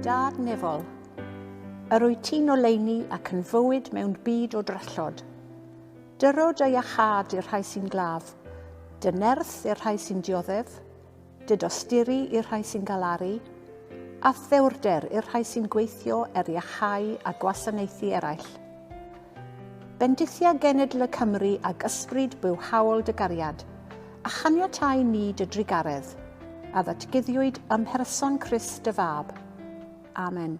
Dad Nefol, yr wyt ti'n oleini ac yn fywyd mewn byd o drallod. Dyrod a iachâd i'r rhai sy'n glaf, dy nerth i'r rhai sy'n dioddef, didosturi i'r rhai sy'n galaru, a thewrder i'r rhai sy'n gweithio er iachau a gwasanaethu eraill. Bendithia genedl y Cymry ag ysbryd bywhaol dy gariad, a chaniatai ni dy drugaredd, a ddatguddiwyd ym mherson Crist dy Fab. Amen.